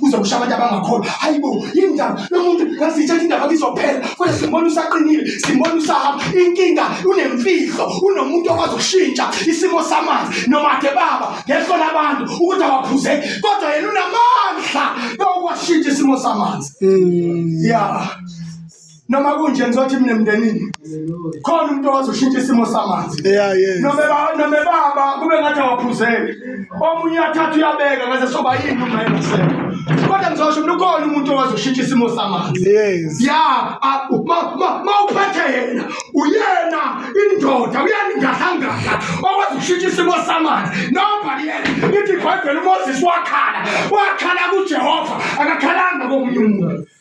kuze kusha abantu abangakholwa hayi bo indaba lomuntu ngasithatha indaba kizophela kodwa simbona usaqinile simbona usahamba inkinga unemfihlo unomuntu okwazi ukushintsha isimo samanzi noma ke baba ngehlo labantu ukuthi awaphuze kodwa yena unamandla yokuwashintsha isimo samanzi mm. ya noma kunje ngizothi mina emndenini khona umuntu owazoshintsha isimo samanzi nome baba kube ngathi awaphuzeli omunye uyathatha uyabeka ngaze soba yini uma engaseko kodwa ngizosho mina ukhona umuntu owazoshintsha isimo samanzi ya ma uphethe yena uyena indoda uyena ingahlangana owazoshintsha isimo samanzi nobhaliyena ithi ibhayibheli umoses wakhala wakhala kujehova akakhalanga komunye umuntu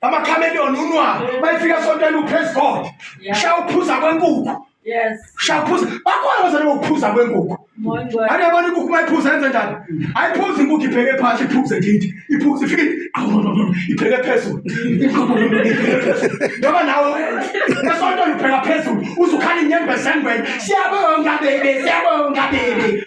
amakhameleon unwa bayifika esontweni upraise god sha uphuza kwenkukhu sha uphuza bakhona abazali bokuphuza kwenkukhu ane yabona inkukhu uma iphuza yenze njani ayiphuzi inkukhu ibheke phansi iphuze kithi iphuze ifike ibheke phezulu noma nawe esontweni ubheka phezulu uzukhala inyembezengweni siyabonga bebe siyabonga bebe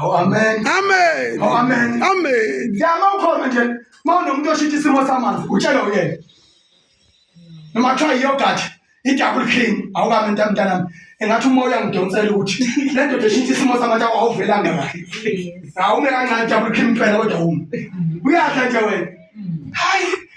Oh, amen. Amen. Oh, amen. Amen. Ngiyama ukhona nje mawunomuntu oshintsha isimo samanzi utshela uyena. Noma kuthiwa yiyogurt i-double cream awukami into mntanami engathi umoya ngidonsela ukuthi le ndoda eshintsha isimo samanzi awuvelanga kahle. Awume kancane double cream impela kodwa uma. Uyadla nje wena. Hayi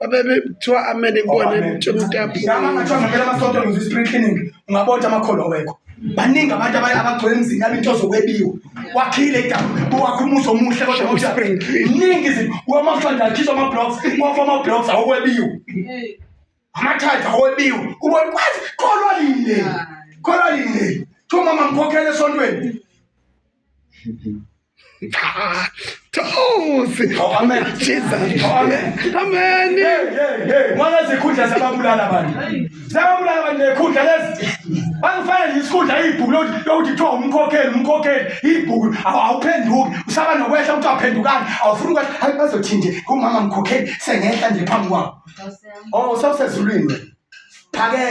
babebethiwa amele kubona oh, emtshe umntuamasonto ngize i-spring cleaning ungabotha amakholwa wekho baningi abantu abagcwele emzini yabo into zokwebiwa wakhile wakha umuzi omuhle kodwaningi wamahlanda akhishwa ama-blocks wafa ama-blocks awokwebiwa amathatha awokwebiwa ubona kwazi kholwa line kholwa line thiwa mama ngikhokhele esontweni Thosi. Oh, amen. Jesus. Oh, amen. Amen. Hey, hey, hey. Mwana zikhundla zababulala abantu. Zababulala abantu nekhundla lezi. Bangifana nje isikhundla ibhuku lokuthi kuthiwa umkhokheli umkhokheli ibhuku awuphenduki usaba nokwehla ukuthi awuphendukani awufuni ukwehla hayi bazothi nje kumama mkhokheli sengehla nje phambi kwabo. Oh, sawusezulwini. Phakela.